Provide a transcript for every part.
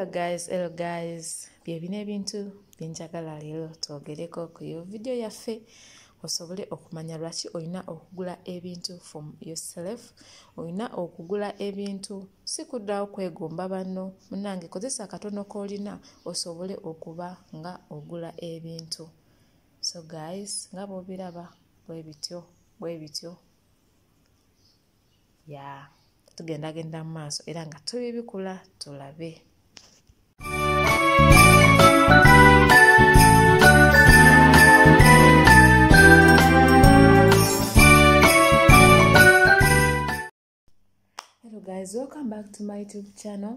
hello guys hello guys byebina ebintu byenjagala leero twogereko ku yo vidiyo yaffe osobole okumanya lwaki olina okugula ebintu from yourself olina okugula ebintu si kuddawo kwegomba banno munange kozesa akatono k'olina osobole okuba nga ogula ebintu so guys nga bwobiraba bwebityo bwebityo ya yeah. tugendagenda mu maaso era nga tubibikula tulabe hello guys welcome back to my youtube channel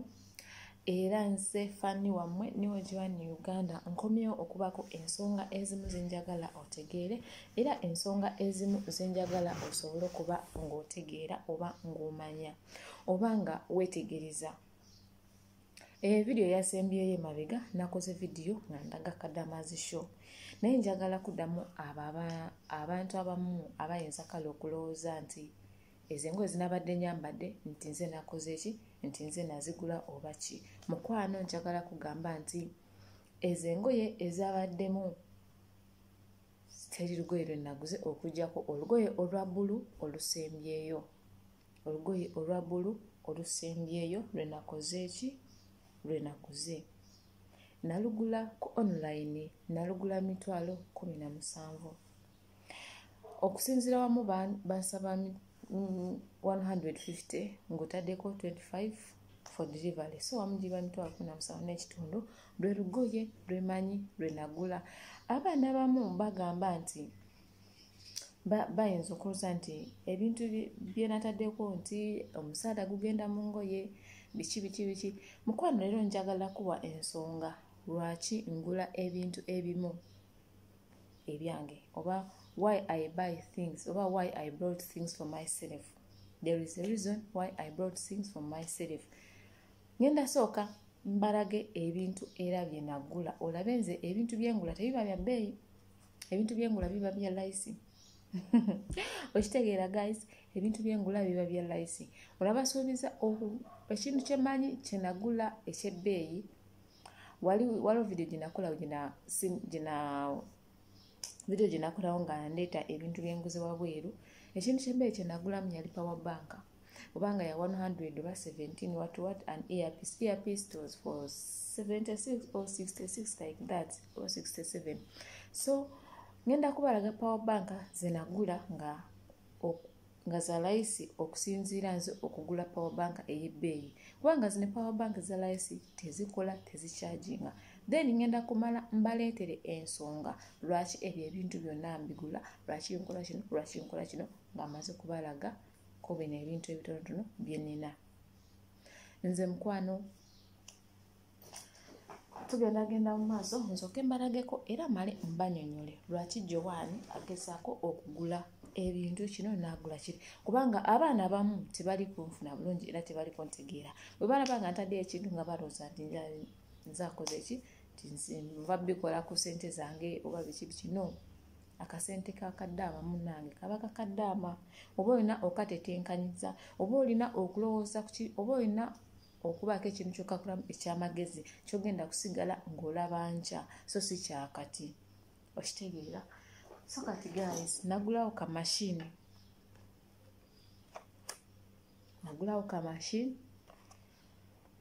era nze fanni wammwe niwo giwani uganda nkomyewo okubaako ensonga ezimu zenjagala otegeere era ensonga ezimu zenjagala osobole okuba ng'otegeera oba ng'omanya oba nga weetegereza evidiyo eh, yasembyeyo emabega nakoze vidiyo nga ndaga kadamazi show naye njagala kuddamu abo abantu abamu abayinza kale okulowooza nti ezo engoye zinabadde nyambadde nti nze nakoze ki nti nze nazigula oba ki mukwano njagala kugamba nti ezo engoye ezabaddemu teri lugoye lwe naguze okujjako olugoye olwa bbulu olusembyeyo olugoye olwa bbulu olusembyeyo lwe nakoze ki lwe naguze nalugula ku online nalugula mitwalo kumi na musanvu okusinzira wamu bansaba 150 ng'otaddeko 25 for delivery so wamu giba mitwalo kumi namusanvu n'ekitundu lwe lugoye lwe manyi lwe nagula abaana abamu bagamba nti bayinza okuluza nti ebintu bye nataddeko nti omusaala gugenda mu ngoye biki biki biki mukwano leero njagala kuwa ensonga lwaki ngula ebintu ebimu ebyange oba why i buy things oba why i brought things for myself there is a reason why i brought things for myself ngenda sooka mbalage ebintu era bye nagula olabe nze ebintu byengula tebiba bya bbeeyi ebintu byengula biba bya layisi okitegeera guys ebintu byengula biba bya layisi olabasuubiza ekintu kyemanyi kyenagula ekyebbeeyi wali waliwo video gyenakola gyena video gyenakolawo nga ndeeta ebintu byenguze wabweru ekintu kyembeere kyenagulamu yali power bank obanga ya 100 oba 17 wat wat an earpiece earpiece was for 76 or 66 like that or 67 so ngenda kubalaga power bank zenagula nga nga za layisi okusinziira nze okugula power bank ey'ebbeeyi kubanga zino power bank za layisi tezikola tezikyaginga then ngenda kumala mbaleetere ensonga lwaki ebyo ebintu byonna mbigula lwaki nkola kino lwaki nkola kino ng'amaze kubalaga ko bino ebintu ebitonotono bye nnina nze mukwano tugenda genda mu maaso nzoke mbalageko era male mbanyonyole lwaki jowaani agezaako okugula ebintu kino naagula kiri kubanga abaana abamu tebali kunfuna bulungi era tebali kuntegeera bwe balaba nga ntadde ekintu nga balooza nti nzakoze ki nva bikola ku sente zange oba biki biki no akasente kakaddaama munange kaba kakaddaama oba olina okatetenkanyiza oba olina okulowooza kuki oba olina okubaako ekintu kyokakulamu ekyamagezi kyogenda kusigala ng'olaba nkya so si kyakati okitegeera so kati guys nagulawo ka mashini nagulawo ka mashini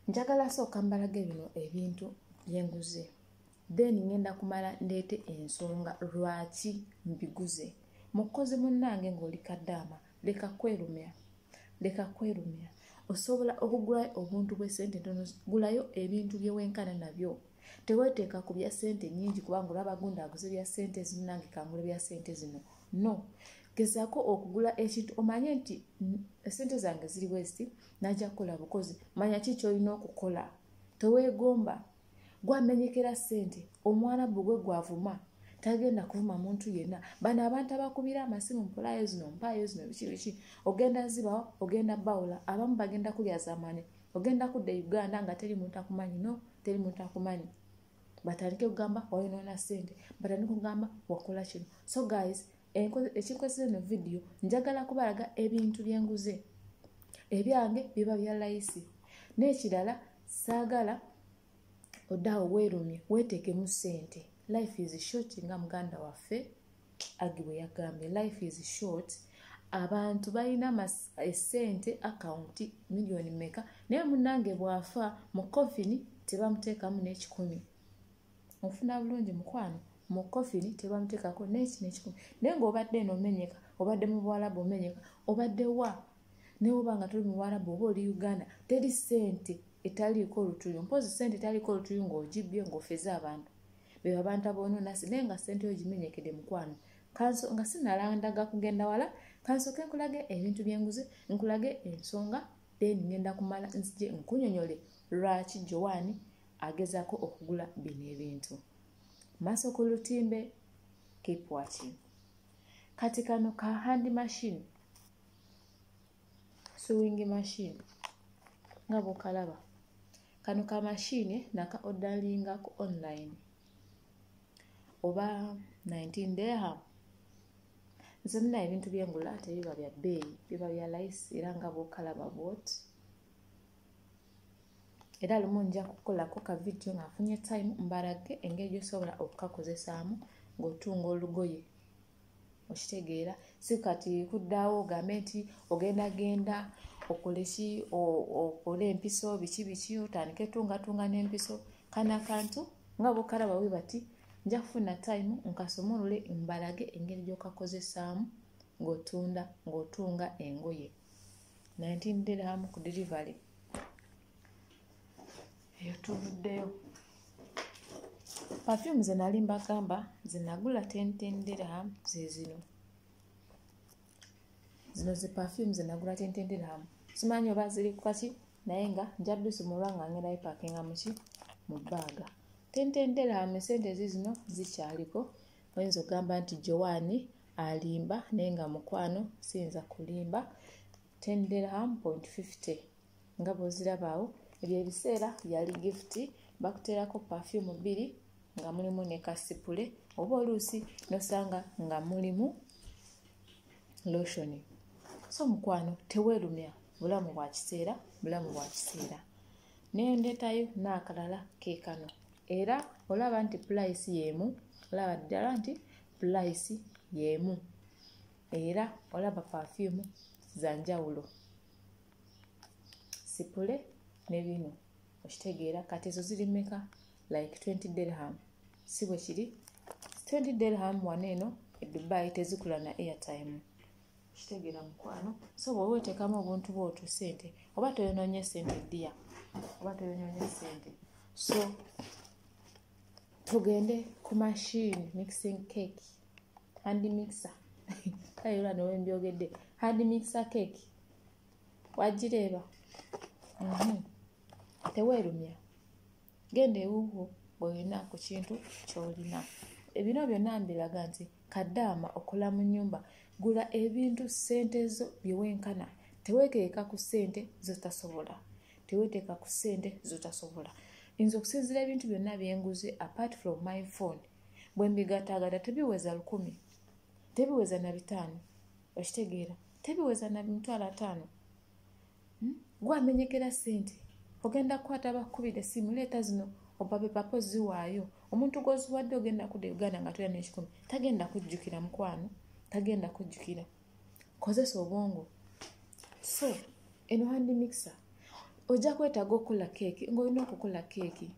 njagala sooka mbalage bino ebintu byenguze then ngenda kumala ndeete ensonga lwaki mbiguze mukozi munnange ng'oli kaddaama leka kwerumya leka kwerumira osobola okugulayo obuntu bwesente ntono gulayo ebintu byewenkana nabyo teweteeka ku bya sente nyingi kubanga olaba gundi aguze bya sente zino nange kangule bya sente zino no gezako okugula ekintu omanye nti esente zange ziri weziti naja kukola bukozi manya ki kyolina okukola tewegomba gwamenyekera ssente omwanabu gwe gwavuma tagenda kuvuma muntu yenna bano abantu abakubira amasimu mpolayo zino mpaayo zino biki biki ogenda zibawo ogenda bawula abamu bagenda kulya zamani ogenda kudda e uganda nga teri muntu akumanyi no teri muntu akumanyi batandike kugamba wayonoona ssente batandike kugamba wakola kino so guys ekinkozesa eno vidiyo njagala kubalaga ebintu byenguze ebyange biba bya layisi n'ekirala saagala odaawo weerumye weeteekemu ssente life is short nga muganda waffe agi bwe yagambye life is short abantu balina esente akawunti miliyoni meka naye munange bwafa mu kofini tebamuteekamu n'ekikumi ofuna bulungi mukwano mu kofini tebamutekako nekino ekikumi naye ngaobadde eno omenyeka obadde mu buwalabu omenyeka obadde wa naye oba nga toli mu buwalabu oba oli uganda teri sente etaliiko olutuyu mpozi sente etaliiko olutuyu ngaogibbye ngaofeze abantu beba abantu aboononasi naye nga sente yo gimenyekede mukwano kanso nga sinalandaga kugenda wala kansoke nkulage ebintu byenguze nkulage ensonga then ngenda kumala nzije nkunyonyole lwaki jowaani agezaako okugula bino ebintu maaso ku lutimbe keep watching kati kano ka hand machine sewing machine nga bwokalaba kano ka mashini naka odalinga ku online oba 19 derham nze muna ebintu byengula tebiba bya bbeeyi biba bya lice era nga bwokalaba bwoti era lumu nja kukolako ka vidiyo ng'afunye time mbalage engeri gyosobola okukakozesaamu ng'otunga olugoye okitegeera si kati kuddaawo ogambe nti ogenda genda okole ki okole empiso biki biki otandike tungatunga n'empiso kana akantu nga bokalaba we bati nja kufuna time nkasumulule mbalage engeri gyokakozesaamu ng'otunda ng'otunga engoye 19 dirham ku delivery eyo tuvuddeyo perfume ze nali mbagamba zinagula 10 dirham zezino zino zi perfume zinagula 10 dirham simanyi oba ziri kukaki naye nga njabisumulwa nga ngenda bipakinga muki mu baaga 10 dirham esente zizino zikyaliko oyinza okugamba nti jowaani alimba naye nga mukwano siyinza kulimba tenderham point 50 nga bwozirabaawo ebyo ebiseera yali gifuti bakuteerako pafyumu bbiri nga mulimu ne kasipule oba oluusi nosanga nga mulimu loshoni so mukwano teweerumya bulamu bwa kiseera bulamu bwa kiseera nendetayo naakalala keekano era olaba nti pulayisi y'emu olaba ddala nti pulayisi y'emu era olaba pafyumu za njawulo sipule ne bino okitegeera kati ezo ziri meka like 20 dirham si bwe kiri 20 dirham wano eno edubai tezikula na airtime kitegera mukwano so bwoba otekamu obuntu bwotu sente oba toyononye sente dia oba toyononye sente so tugende ku machine mixing cake hand mixer kale era nowe mbyogedde hand mixer cake wagireeba mhm. teweerumya genda ewuwo bwolina ku kintu kyolina ebino byonna mbiraga nti kadaama okola mu nyumba gula ebintu sente zo byewenkana teweteeka ku sente zotasobola teweteeka ku sente zotasobola nze okusinzira ebintu byonna byenguze apart from my phone bwembigatagata tebiweza lukumi tebiweza na bitaano okitegeera tebiweza na mitwalo ataano hmm? gwamenyekera sente ogenda kukwata bakukubira esimu leeta zino obabe papa oziwaayo omuntu gwoziwadde ogenda kuda e uganda nga toya nekikumi tagenda kujjukira mukwano tagenda kujjukira kozesa obwongo so eno handi mixer ojja kwetaaga okukola keeki ngaolina okukola keeki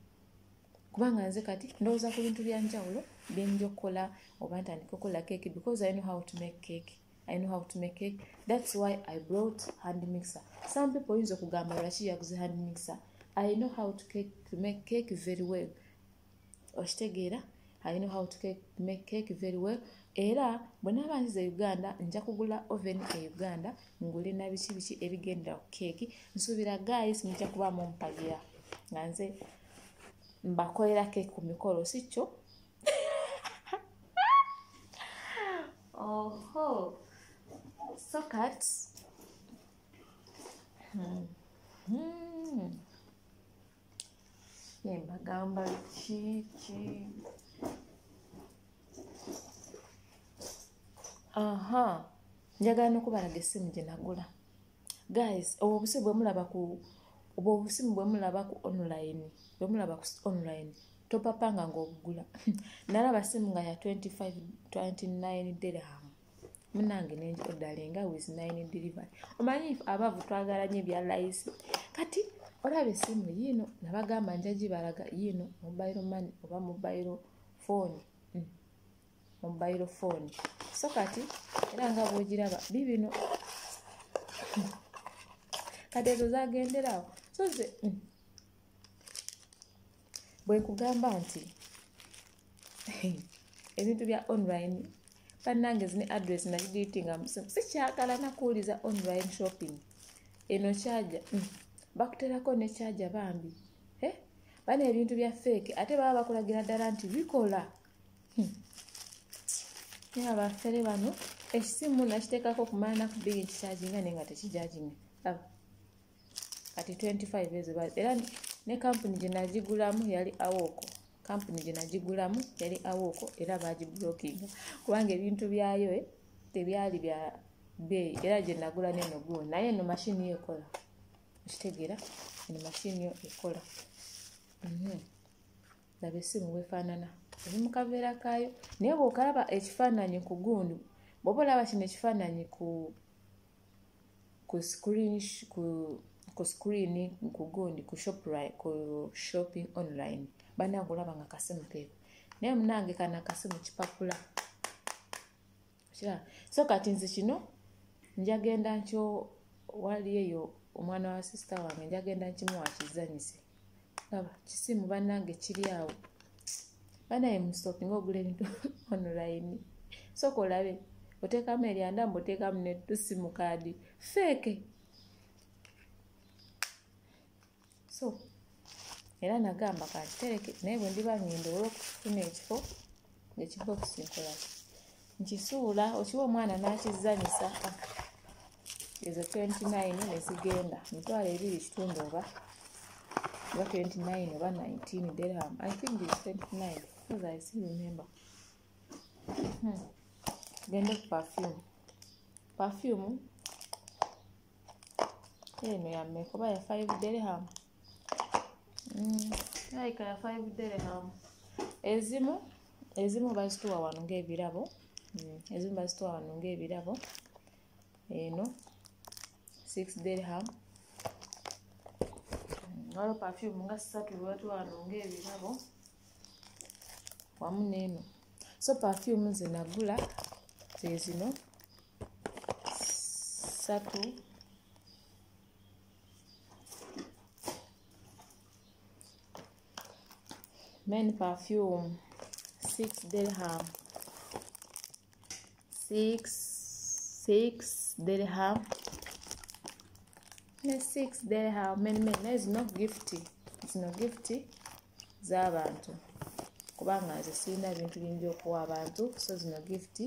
kubanga nze kati ndowooza ku bintu byanjawulo byenja okukola oba ntandika okukola keeki because i know how to make keeki i know how to make cake that's why i brought hand mixer some people oyinza okugamba lwaki yaguze hand mixer i know how to, cake, to make cake very well okitegeera i know how to cake, make cake very well era bwe naaba nziza e uganda nja kugula oven e uganda ngule na biki biki ebigendera ku keeki nsuubira guys mujja kuba mumpagira nga nze mbakolera keeki ku mikolo si kyo oho so kat hmm. hmm. yembagamba kiki aha njagala nokubalaga esimu gyenagula guys obwo obusimu bwemulaba ku obwo obusimu bwemulaba ku online bwemulaba ku online topapanga ngaobugula nalaba simu nga ya 2529 dirham munange nenjodalinga with nine delivery omanyi abavu twagala nyo ebya layisi kati olaba esimu yiino nabagamba njagibalaga yiino mobile money oba mobile phone mobile phone so kati era nga bwogiraba bibino kati ezo zagenderawo so ze mm. bwekugamba nti ebintu bya online bannange zine address nagidiitinga musimu sikyagala nakuwuliza online shopping eno kyaja mm. bakuterako ne kyaja bambi eh? bana ebintu bya feeke ate baba bakulagira ddala nti bikola naye abafere bano ekisimu nakiteekako okumala naku bbiri ekikyajinga naye nga tekijajinga aba kati 25 ezo era ne kampuni gye nagigulamu yali awooko kampuni gye nagigulamu yali awooko era bagibulokinga kubanga ebintu byayo eh, tebyali bya bbeeyi era gye nagula neno guo naye eno mashini yo ekola okitegeera eno mashini yo ekola mhm. laba essimu bwefaanana eri mu kaveera kaayo naye bwokalaba ekifaananyi ku gundi bwoba olaba kino ekifaananyi ku ku screen ku ku screen ku gundi ku shop ku shopping online banange olaba nga kasimu keeko naye munange kana kasimu kipapula okiraba so kati nze kino njagenda nkyo wali eyo omwana wa sisita wange njagenda nkimuwa kizanyise laba kisimu bannange kiri awo banaye musoki nga ogula ebintu onulayini soka olabe oteekamu eryanda mbu oteekamu netusimu kaadi feeke so era nagamba kakitereke naye bwe ndiba ngenda olwokufuna ekifo ngekibokisi nkola nkisuula okiwa omwana n'akizanyisa ezo 29 nezigenda mitwalo ebiri kitundu oba oba 29 oba 19 derham i think is 29 because i still remember hmm. gende ku perfume perfume eno yammeka oba ya five derham mm, like ya five derham ezimu ezimu bazituwa wano ngaebirabo mm, ezimu bazituwa wano ngaebirabo eno six derham mm, waliwo perfume nga satu lwatuwa wano ngaebirabo wamu neeno so perfume zenagula zezino satu men perfume six dirham six six dirham ne six dirham men men naye zino gifti zino gifti z'abantu kubanga nze sirina bintu bingi okuwa abantu so zino gifti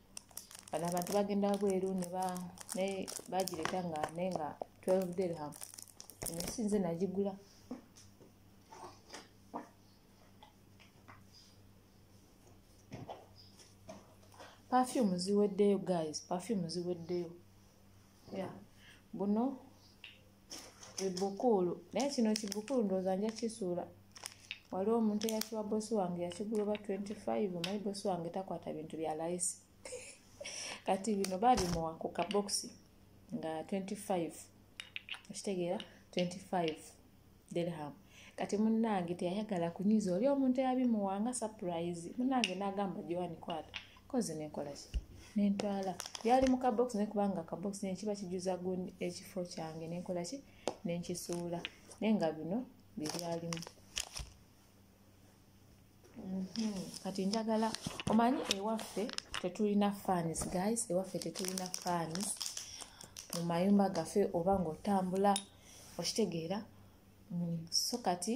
bano abantu bagenda wabweru nebagireta nga naye nga 12 dirham ensi nze nagigula perfume ziweddeyo guys perfume ziweddeyo ya buno ebukuulu naye kino kibukuulu ndowooza nja kisuula waliwo omuntu eyakiwa bosi wange yakigula oba 25 omanyi bosi wange takwata bintu bya layisi kati bino babimuwa ku kabokisi nga 25 okitegeera 25 dirham kati munange teyayagala kunyiza oli omuntu eyabimuwa nga surprise munange nagamba joani kwata kozi nenkola ki nentwala byali mu kabokisi naye kubanga akabokisi nekiba kijuza gundi ekifo kyange nenkola ki nenkisuula naye nga bino byebyalimu mhm. kati njagala omanyi ewaffe tetulina fans guys ewaffe tetulina fans mu mayumba gaffe oba ngaotambula okitegeera mm, so kati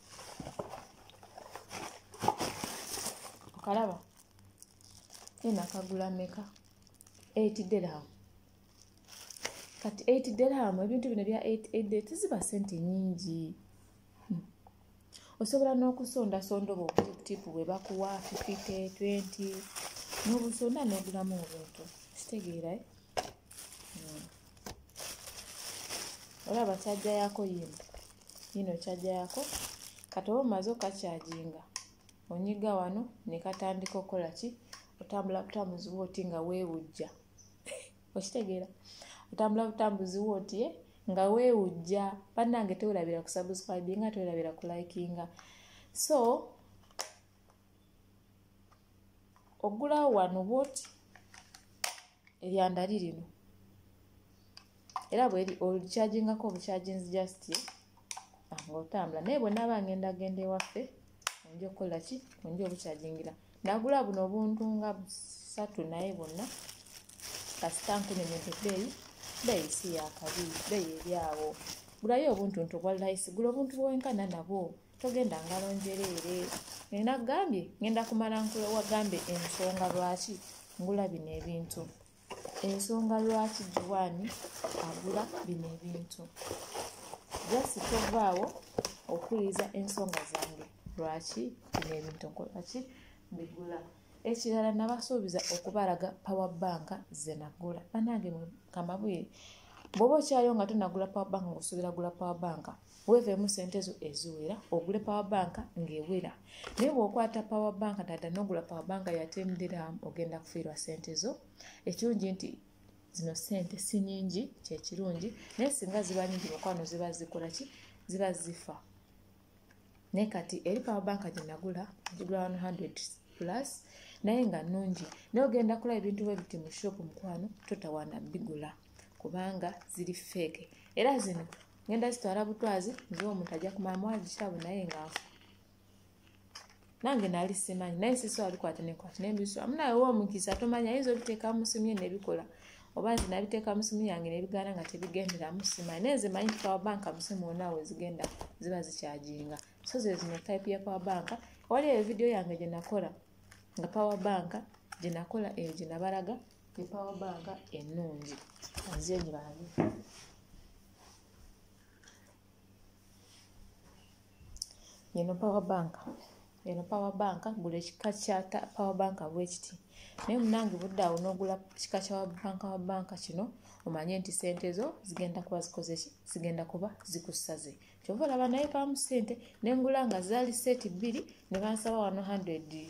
okalaba ena kagula meka 8 dirham kati 8 dirham ebintu bino bya 8 tiziba sente nyingi hmm. osobola n'okusondasonda obwo obutipu bwe bakuwa 50 20 n'obusonda n'ogulamu obuntu kitegeera eh? hmm. olaba kyajja yako yimbi yino kyaja yako kati oba omaze okakyaginga onyiga wano nekatandika okukola ki otambula butambuzi wooti nga wewujja okitegeera otambula butambuzi wooti eh? nga wewujja bannange tewerabira kusubscribinga tewerabira kulikinga so oggulawo wano bwoti eryandali lino era bweri olukyajingako obukyaginzi just ah, ngaotambula naye bwenaba ngenda genda ewaffe onja okukola ki onja obukyajingira nagula buno obuntu nga busatu naye bonna kasita nkunyonyede beeyi beeyi si yakabi beeyi eryawo gulayo obuntu nti obwa layisi gula obuntu bwenkana nabwo togenda ngalo njereere nina gambye ngenda kumala nkula wagambye ensonga lwaki ngula bino ebintu ensonga lwaki juwaani agula bino ebintu jasi tovaawo okuwuliriza ensonga zange lwaki bino ebintu nkolaki mbigula ekirala nabasuubiza okubalaga power bank zenagula banange kamabwire bwoba okyayo nga tonagula power bank ngaosuubira gula power bank weeveemu sente zo eziwera ogule power bank ng'ewera naye bw'okwata power bank dada n'ogula power bank yatemdiramu ogenda kufiirwa sente zo ekirungi nti zino sente si nyingi kyekirungi naye singa ziba nyingi mukwano ziba zikola ki ziba zifa naye kati eri power bank gye nagula gigula 100 plus naye nga nungi naye ogenda kula ebintu bwe biti mu shop mukwano totawana bigula kubanga ziri feeke era zino ngenda zitwala butwazi nze omuntu ajja kumalamu agikyabo naye ngaafu nange nali simanyi naye sisi wabikwata nekwata nembiso amu nawe wa omukisa tomanya ayinza obiteeka musimu ye nebikola oba nze nabiteeka musimu yange nebigaana nga tebigenderamu simanyi naye nze manyi power bank musimu wona wezigenda ziba zikyajinga so zezino type ya power bank wali eyo vidiyo yange gyenakola nga power bank gyenakola eyo gyenabalaga epawa banka ennungi nze ngibabi eno power bank eno power bank gula ekika kya power bank bwekiti naye munange budde awo n'ogula kika kya banka wa banka kino omanye nti sente zo zigenda kuba zikozeki zigenda kuba zikusaze kyova olaba naye bamu sente nengula nga zaali seti bbiri ne bansaba 100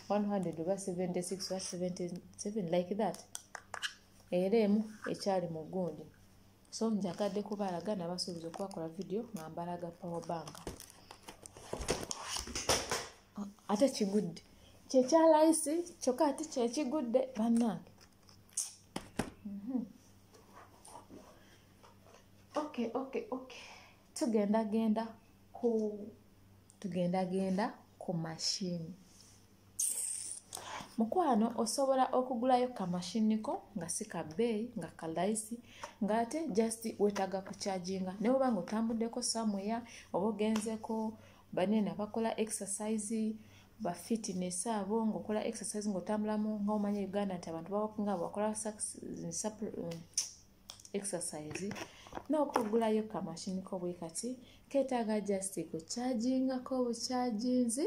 100 oba 76 oba 77 like that era emu ekyali mu gundi so njagadde kubalaga nabasuubiza okubakola vidiyo nga mbalaga power bank ate kigudde kyekyalayisi kyokka ate kyekigudde bannange mhm. okay okay okay tugenda genda ku tugenda genda ku mashini mukwano osobola okugulayo kamashini ko nga si ka bbeeyi nga kalayisi ng'ate just wetaaga kucharginga naye oba nga otambuddeko samuya oba ogenzeko banene abakola exercise ba fitness abo ngaokola exercise ngaotambulamu nga omanya uganda nti abantu bawakunga bakola exercise n'okugulayo kamashini ko bwe kati keetaaga just kukyajingako obukyaginzi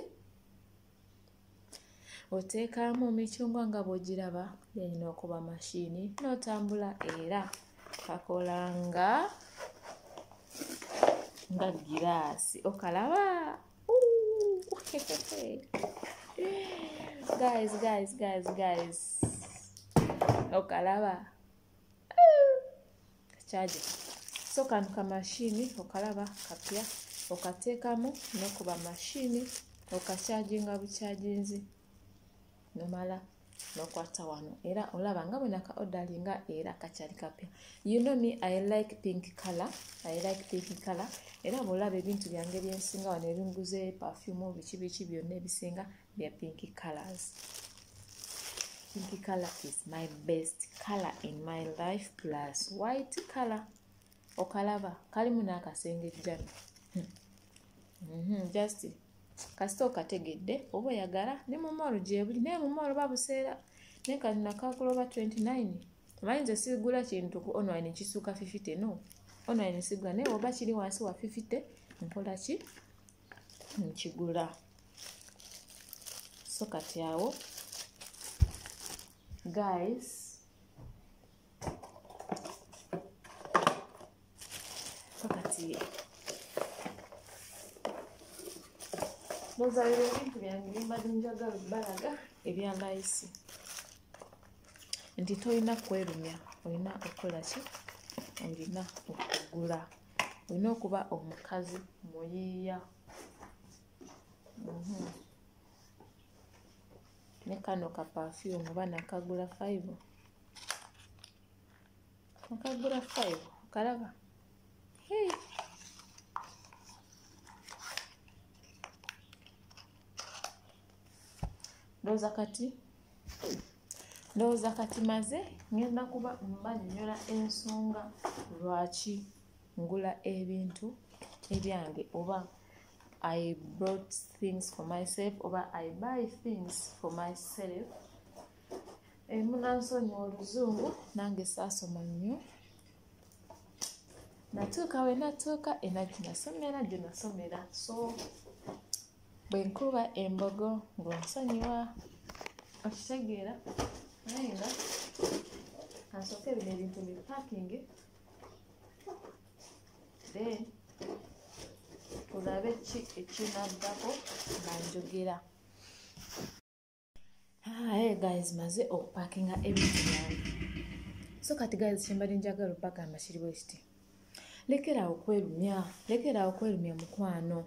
oteekamu emicungwa nga bw'ogiraba yanyina okuba mashini n'otambula era kakola nga nga giraasi okalaba guys guys guys guys okalaba kyaje so kano ka mashini okalaba kapya okateekamu nokuba mashini okakyaginga bukyaginzi nomala nokwata wano era olaba nga bwena ka odalinga era kakyali kapya you know me i like pink color i like pink color era bwolaba ebintu byange byensinga wano ebinguze perfume biki biki byonna ebisinga bya pink colors pink color is my best color in my life plus white color okalaba kalimu n'akasenge jjana hmm. mm -hmm, just kasita okategedde oba oyagala ne mumoolo gyebuli naye mumoolo babuseera naye kati nakakuloba 29 omanyi nze sigula kintu ku online kisuuka 50 no online sigula naye oba kiri wansi wa 50 nkolaki nkigula so kati awo guys so kati nozalira ebintu byange bimbadde njagala balaga ebya layisi nti tolina kwerumya olina okukola ki olina okugula olina okuba omukazi muyiiya mhm. ne kano ka pafyumu oba nakagula five nakagula five okalaba hey. ndowooza kati ndowooza kati maze ngenda kuba mbanyonyola ensonga lwaki ngula ebintu ebyange oba i brought things for myself oba i buy things for myself emunansonyi oluzungu nange saasoma nnyo natuuka wenatuuka enaki nasomera gyenasomera so bwe nkuba embogo ng'onsonyiwa okitegeera naye nga kansooke bino ebintu bi pakingi then tulabe ki ekinaddako nga njogera Hi guys, maze okupakinga ebintu byange. So kati guys kyembadde njagala okubagamba kiri bwe kiti. Lekeraawo okwerumya, lekeraawo okwerumya mukwano.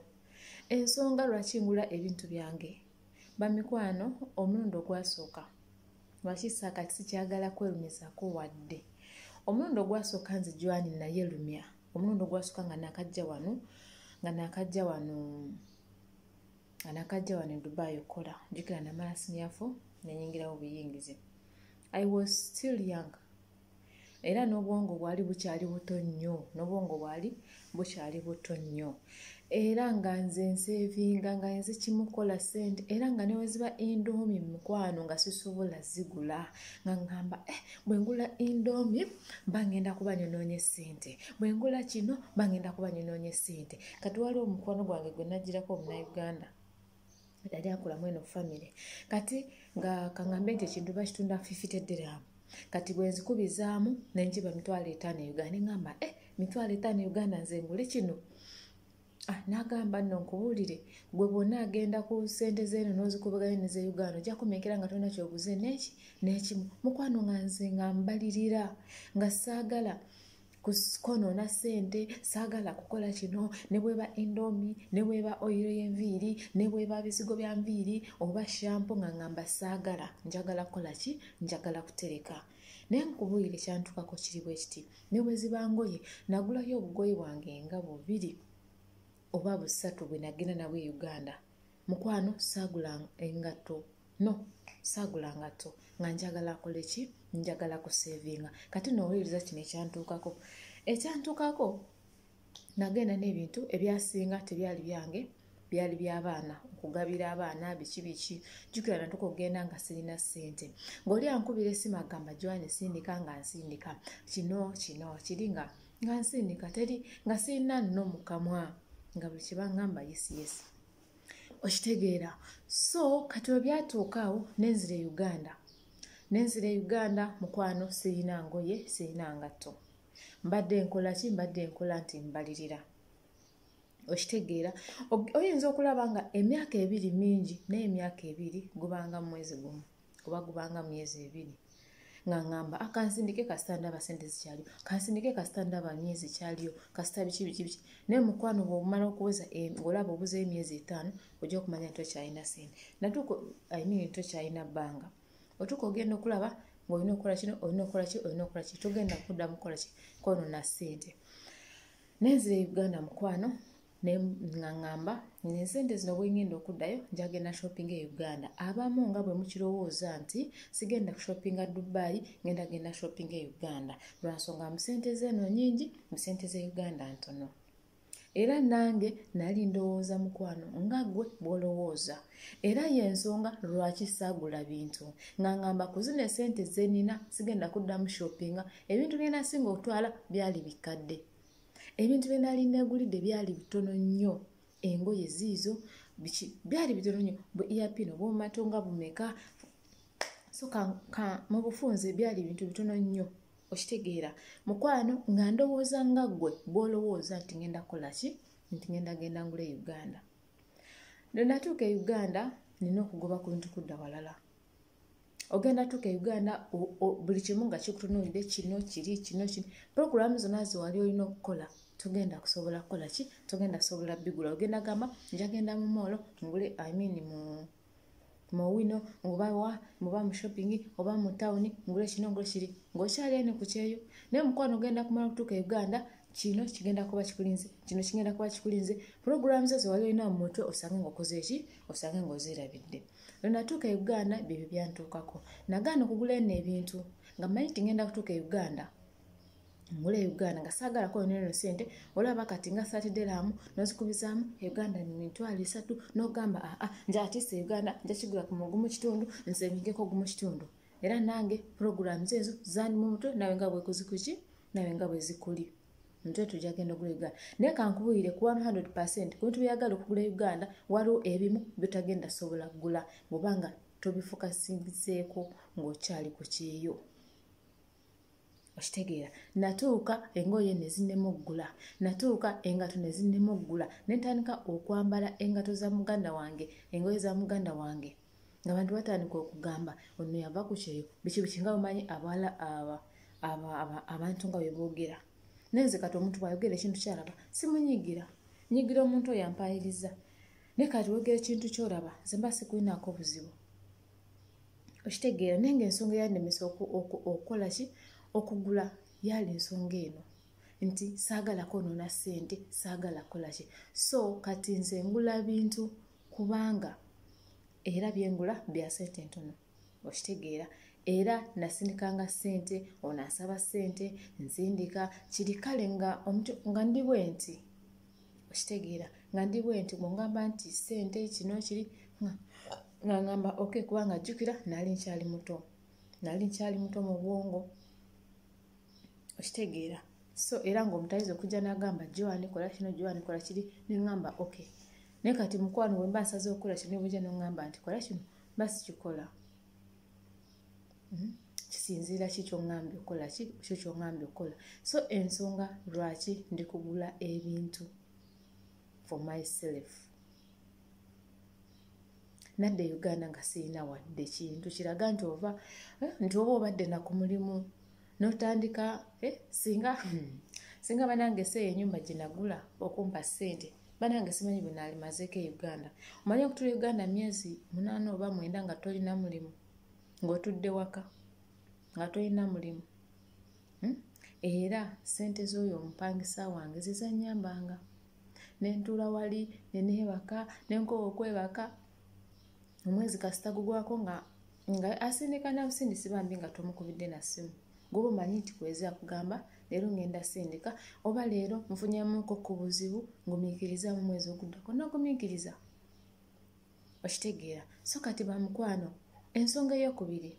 Ensonga lwaki ngula ebintu byange. Bamikwano omulundi ogwasooka. Lwaki saakati sikyagala kwerumizako wadde. Omulundi ogwasooka nze jwani naye lumya. Omulundi ogwasooka nga nakajja wano nga nakajja wano. anakajja wano edubai okukola jukira namala sinyafu nenyingirawo buyingizi i was still young era n'obwongo bwali bukyali buto nnyo n'obwongo bwali bukyali buto nnyo era nga nze nsevinga nga nze kimukola sente era nga neweziba indomi mukwano nga sisobola zigula nga ngamba eh, bwengula indomi bangenda kuba nyonoonye sente bwengula kino bangenda kuba nyonoonye sente kati waliwo omukwano gwange gwe najjirako omunauganda yali akola mweno famire kati nga kaŋambe nti ekintu bakitunda fifite diramu kati bwenzikubizaamu nenjiba mitwalo etaano e uganda neŋamba e eh, mitwalo etaano e uganda nze ngule kino ah, nagamba nno nkubuulire gwe bwonna agenda ku sente zeeno nozikubaganya neze uganda ojja kumeekera nga tolina kyoguze neki nekimu mukwano nga nze nga mbalirira nga saagala konoona ssente saagala kukola kino ne bweba endomi ne bweba oyiro y'enviiri ne bweba bizigo bya nviiri oba shampo nga ngamba saagala njagala kukola ki njagala kutereka naye nkubuulire kyantukako kiri bwe kiti ne bwe ziba ngoye nagulayo obugoye bwange nga bubiri oba busatu bwe nagenda nabwe e uganda mukwano saagula engatto no saagula ngatto nga njagala akole ki njagala kuseevinga kati noowuliriza kino ekyantuukako ekyantuukako nagenda n'ebintu ebyasinga tebyali byange byali byabaana okugabira abaana biki biki jukira natuka okugenda nga sirina ssente ngaoli ankubira esimu agamba joani sindika nga nsindika kino kino kiri nga nga nsindika teri nga sirina nno mukamwa nga buli kyebaŋamba yesiyesi okitegeera so kati we byatuuka awo nenzira e uganda nenzira e uganda mukwano sirina ngoye sirina ngatto mbadde nkola ki mbadde nkola nti mbalirira okitegeera oyinza okulaba nga emyaka ebiri mingi naye emyaka ebiri gubanga mwezi gumu oba gubanga myezi ebiri nga ngamba akansindike ah, kasita ndaba sente zikyaliyo kansindike kasita ndaba myezi kyaliyo kasita biki biki biki naye mukwano bwomala okuweza eh, olaba obuza emyezi etaano ojja okumanya nti okyalina sente natuuka imean nti okyalina bbanga otuuka ogenda okulaba ngaolina okukola kino olina okukola ki olina okukola ki togenda kudda mukukola ki kono na sente nenzira e uganda mukwano ne nga ŋŋamba ensente zino bwengenda okuddayo njagenda shoppinga e uganda abamu nga bwe mukirowooza nti sigenda kushoppinga dubai ngenda genda shoppinga e uganda lwansonga mu sente zeeno nyingi mu sente ze uganda ntono era nange nali ndowooza mukwano nga gwe bwolowooza era yensonga lwaki saagula bintu nga ngamba ku zino esente zenina sigenda kuddamu shoppinga ebintu byena singa okutwala byali bikkadde ebintu bye nali negulidde byali bitono nnyo engoye ziizo biki byali bitono nnyo bu earpin obwomumato nga bumeka so ka, ka mu bufunze byali bintu bitono nnyo okitegeera mukwano nga ndowooza nga ggwe bwolowooza nti ngenda kukola ki nti ngenda genda ngula e uganda lwenatuuka e uganda nina okugoba ku bintu kudda walala ogenda tuka e uganda buli kimu nga kikutunulire kino kiri kino kino programu zona zewali olina okukola togenda kusobola kukola ki togenda kusobola bigula ogenda gamba njagenda mu moolo ngule imean mu mu wino oba wa muba mu shopping oba mu tawuni ngule kino ngule kiri ng'okyali ene ku kyeyo naye omukwano ogenda kumala okutuuka e uganda kino kigenda kuba kikulinze kino kigenda kuba kikulinze programu zo zewali olina mu mutwe osange ng'okoze eki osange ng'ozirabidde lwe natuuka e uganda byebyo byantuukako nagaana okugula eno ebintu nga manyi ti ngenda kutuuka e uganda ngula e uganda nga saagalako yoneno sente olaba kati nga satideramu nozikubizaamu e uganda mitwalo esatu nogamba aa ah, ah, njatiisa e uganda njakigula ku mugumu kitundu nze migeko gumu kitundu era nange puroguramu zeezo zandi mu mutwe nawe nga bwekuzikuki nawe nga bwezikuli nze tujja genda ogula uganda naye kankubulire ku 100 percent ku bintu byeyagala okugula uganda waliwo ebimu byotagenda sobola kugula bwobanga tobifukasingiseeko ng'okyali ku kyeyo okitegeera natuuka engoye nezinemu okugula natuuka engato nezinemu okugula netandika okwambala engato za muganda wange engoye za muganda wange nga bantu batandika okugamba ono yava ku kyeyo biki biki nga bamanyi abala aba abantu nga beboogera naye nze kati omuntu bwayogera ekintu kyalaba simunyigira nyigira omuntu oyo ampayiriza naye kati wogera ekintu kyolaba nze mba sikulinaako obuzibu okitegeera naye nga ensonga eyanemesa okukola ki okugula yaali ensonga eno nti saagala kwonoona ssente saagala kukola ki so kati nze ngula bintu kubanga era byengula bya sente ntono okitegeera era nasinikanga sente ono asaba sente nzindika kiri kale nga omuntu nga ndi bwe nti okitegeera nga ndi bwe nti bwongamba nti sente kino kiri nga ngamba ok kubanga jjukira nali nkyali muto nali nkyali muto mu bwongo okitegeera so era ngaomutayiza okujja nagamba joan kola kino joan kola kiri neŋamba ok naye kati mukwano wemba nsaza okukola kino nebujja noŋamba nti kola kino mba sikikola hmm? kisinziira ki kyoŋambye okukola ki kyo kyoŋambye okukola so ensonga lwaki ndikugula ebintu for myself nadde uganda nga sirina wadde kintu kiraga nti ova eh, nti oba obadde naku mulimu notandika eh, singa hmm, singa banange seeyo enyumba gyenagula okumpa sente banange simanyi bwenalimazeeko e uganda omanyi okutula e uganda myezi munaana oba mwenda nga tolina mulimu ng'otudde waka nga tolina mulimu hmm? era sente z'oyo omupangisa wange zizanyambanga nentuula wali neneebaka nenkoba okwebaka omwezi kasita gugwako nga nga asindika nabusindisi bambi nga tomukubidde na ssimu gwoba omanyi nti kwezi akugamba leero ngenda sindika oba leero nfunyamuko ku buzibu ngumiikiriza mu mwezi oguddako nogumiikiriza okitegeera so kati bamukwano ensonga eyokubiri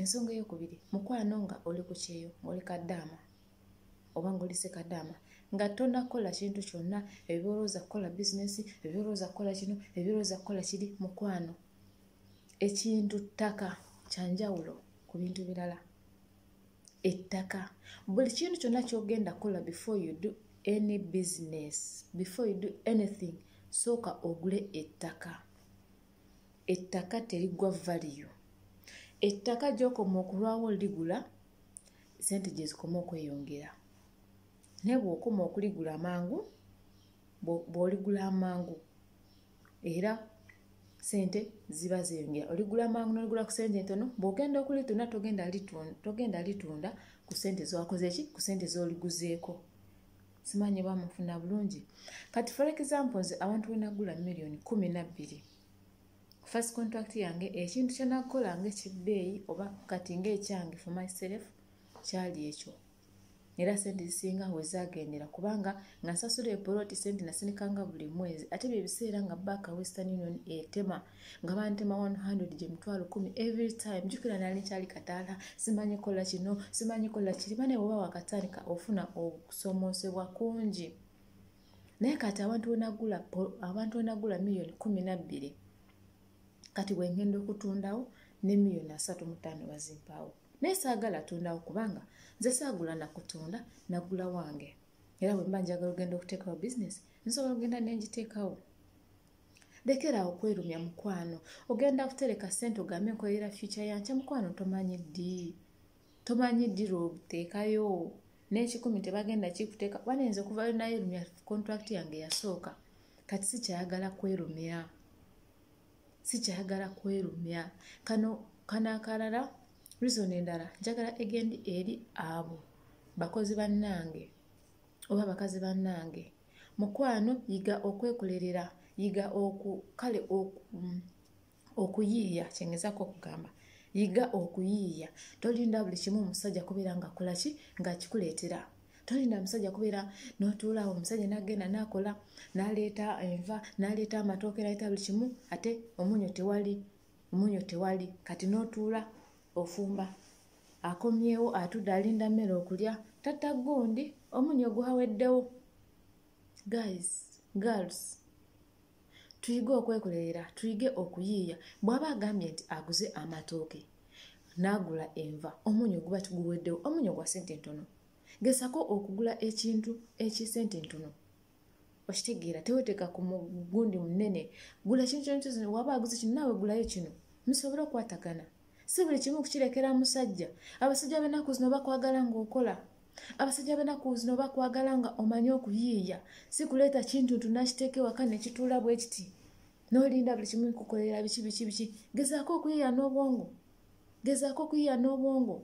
ensonga eyokubiri mukwano nga oli ku kyeyo ngaoli kaddaama oba ngoli sekadaama nga tonakola kintu kyonna ebyolowooza kukola bizinesi ebyolowooza kukola kino ebyolowooza kukola kiri mukwano ekintu ttaka kyanjawulo ku bintu birala ettaka buli kintu kyonna kyogenda kukola before you do any business before you do anything sooka ogule ettaka ettaka terigwa valiyo ettaka gyokoma okulwawo ligula sente gyezikoma okweyongera naye bwokoma okuligula amangu bwoligula amangu era sente ziba zeyongera oligula amangu noligula ku sente entono bwogenda okulitunda togenda litunda ku sente zowakozeki ku sente zoliguzeeko simanyi oba mufuna bulungi kati for example nze abantu wenagula millioni kumi nabbiri first contract yange ekintu kyenakukola nga ekibbeeyi oba kati nga ekyange for myself kyali ekyo era sente zisinga wezagendera kubanga nga nsasula epoloti sente nasinikanga buli mwezi ate bye biseera nga baaka western union etema nga bantema 100 gye mitwalo kumi every time jukira nali nkyali kataala simanyi kola kino simanyi kola kiri bane woba wakatandika ofuna okusomosebwa kungi naye kati abantu wenagula abantu wenagula miliyoni kumi nabbiri kati wengenda okutundawo ne miliyoni asatu mutaano bazimpaawo naye saagala atundawo kubanga nze saagula nakutunda nagula wange era bwemba njagala ogenda okuteekawo bizinesi nsobola ogenda nengiteekawo lekeraawo okwerumya mukwano ogenda kutereka sente ogambe nkolera future yankya mukwano tomanyi ddi tomanyi ddi lwobuteekayo n'ekikumi tebagenda kikuteeka kuba nayinza okuvayo naye erumya contract yange yasooka kati sikyayagala kwerumya sikyayagala kwerumya kano kano akalala reason endala njagala egendi eri abo bakozi bannange oba bakazi bannange mukwano yiga okwekolerera yiga oku kale oku mm, okuyiiya kyengezako okugamba yiga okuyiiya tolinda buli kimu omusajja kubeera nga kolaki ngaakikuleetera tolinda musajja kubeera notuulaawo omusajja nagenda nakola naleeta enva naleeta amatooke naleeta buli kimu ate omunyo tewali omunyo tewali kati notuula ofumba akomyewo atudde alinda mmere okulya tatta gundi omunyo gwaweddewo guys girls tuyige okwekolerera tuyige okuyiiya bwaba agambye nti aguze amatooke n'agula enva omunyo guba tiguweddewo omunyo gwa sente ntono gesako okugula ekintu ekisente ntono okitegeera teweteeka ku mugundi munene gula ekintu kyonkyozina waba aguze kino naawe gulayo kino musobole okwatagana si buli kimu kukirekera musajja abasajja benaku zino bakwagala ngaokola abasajja benaku zino bakwagala nga omanyi okuyiiya si kuleeta kintu ntu nakiteeka ewaka nekituula bwe kiti nolinda buli kimu kukolera biki biki biki gezaako okuyiiya n'obwongo gezaako okuyiiya n'obwongo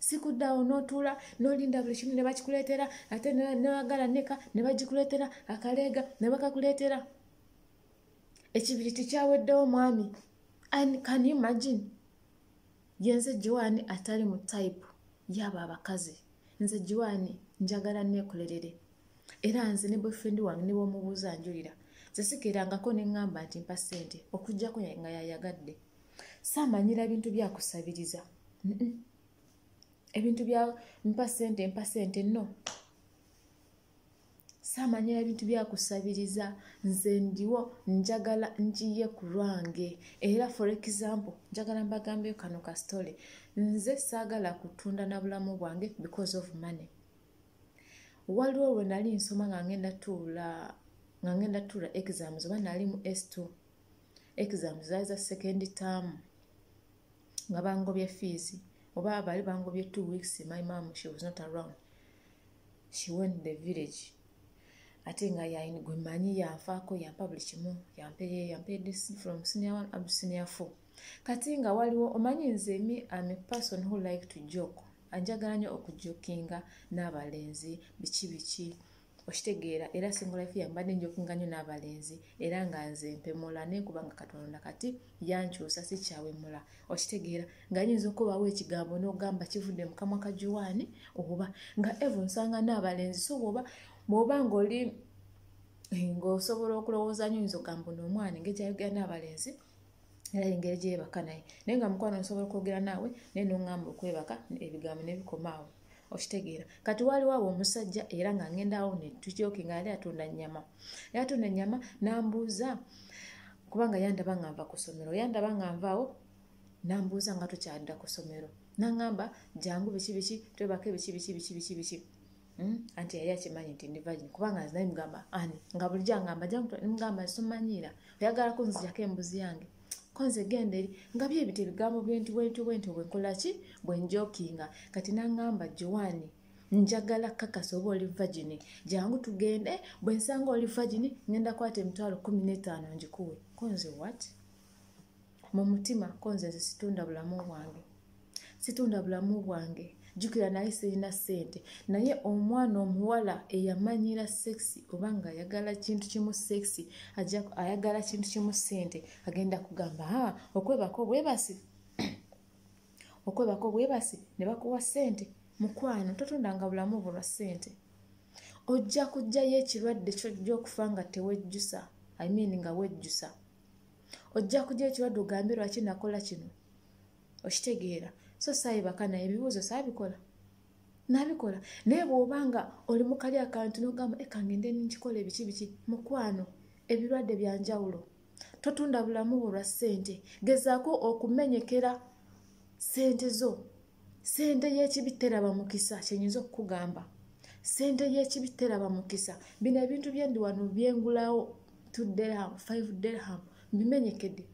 sikuddawo notuula nolinda buli kimu nebakikuleetera ate newagala neka nebagikuleetera akaleega nebakakuleetera ekibiri tikyaweddewo mwami can you imagine yenze jiwaani atali mu tayipu yaabo abakazi nze jiwaani njagala neekolerere era nze ne boyfrendi wange ne bwomubuuza njulira nze sikerangako ne ŋŋamba nti mpa ssente okuggyako nga yayagadde saamanyira bintu byakusabiriza ebintu bya mpa ssente mpa ssente no saamanyira bintu byakusabiriza nze ndiwo njagala njiye ku lwange era for example njagala mbagambeyo kano ka story nze saagala kutunda na bulamu bwange because of money waliwo lwe nali nsoma nga ngenda tuula nga ngenda tuula exams oba nali mu s2 exams zaali za second term nga bangobye fees oba bali bangobye two weeks my mom she was not around she went the village ate nga yaini gwe manyi yanfaako yampa buli kimu yampeye yampeyede from senior one up senior four kati nga waliwo omanyi nze mi am a person who like to joke anjagala nyo okujokinga n'abalenzi biki biki okitegeera era single life yambadde njokinga nyo n'abalenzi era nga nze mpemula nekubanga katonda kati yankyusa sikyawemula okitegeera nga yinza okubawo ekigambo nogamba kivudde mukamwa ka juwaani oba nga evo nsanga naabalenzi so bwoba bwoba ngaoli eh, ngaosobola okulowooza nyo yinza okugamba no omwana engeri gyayogera naabalenzi era engeri gyebaka naye naye nga mukwano nsobola okwogera naawe naye nongamba okwebaka ebigambo nebikomaawo okitegeera kati waaliwo awo omusajja era nga ngenda awo netukyoke nga yali atunda nyama yali atunda nyama nambuuza kubanga yandaba nga nva ku somero yandaba nga nvaawo nambuuza nga tukyadda ku somero nangamba jangu biki biki twebake biki biki biki biki biki hmm? anti yali akimanyi nti ndivagin kubanga nzinaye mugamba ani nga bulijjo angamba jangamba simanyiira oyagala kunzijako embuzi yange konze genda eri nga byebita ebigambo bwentu bwentu bwentu bwekolaki bwenjokinga kati nangamba joani njagala kakasa oba oli vagini jangu tugende bwensanga oli vagini ngenda kwata emitwalo kumi netaano ngikuwe konze wat mu mutima konze nze situnda bulamu bwange situnda bulamu bwange jukira naye sirina sente naye omwana omuwala eyamanyira sexi oba nga ayagala kintu kimu sexi ayagala kintu kimu sente agenda kugamba ha okwebako bwebasi okwebako bwebasi ne bakuwa sente mukwano totundanga bulamu bwo lwa sente ojja kujjayo ekirwadde kyojja okufa nga tewejjusa i mean nga wejjusa ojja kujja ekirwadde ogambe lwaki nakola kino okitegeera so saayibaka naye ebibuuzo saabikola nabikola naye bwoba nga oli mukali akantu nogamba ekangende eh, nkikola ebiki biki mukwano ebirwadde byanjawulo totunda bulamu bwo lwa ssente gezaako okumenyekera ssente zo sente y'ekibi teraba mukisa kyenyinza okukugamba sente y'ekibi teraba mukisa bino ebintu byendi wano byengulawo t derham f derham mbimenyekede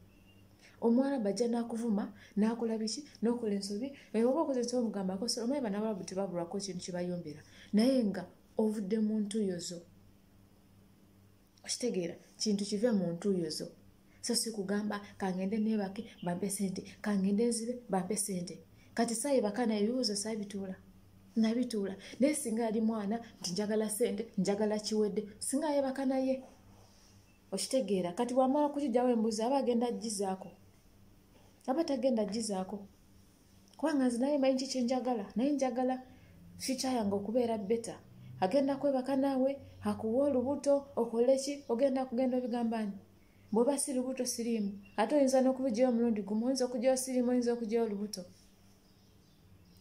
omwana bajja nakuvuma nakola biki nokola ensobi oba okoze ensobi omugambako omanyi banabalabu tebabulwako ekintu kyebayombera naye nga ovudde muntuyozo okitegeera kintu kive mu ntuuyo zo so si kugamba kangende neebake bampe sente kangende nzibe bampe sente kati saayi bakana ebibuuzo saabituula nabituula naye singa yali mwana nti njagala sente njagala kiwedde singa yeebaka naye okitegeera kati bwamala kukijjawo embuzi aba agenda jizaako aba tagenda jizaako kubanga nze naye manyi kikye njagala naye njagala fyuca yange okubeera beta agenda kwebaka naawe akuwa olubuto okole ki ogenda kugenda obigambanyi bwoba si lubuto siriimu ate oyinza n'okubijayo omulundi gumu oyinza okujayo siriimu oyinza okujayo olubuto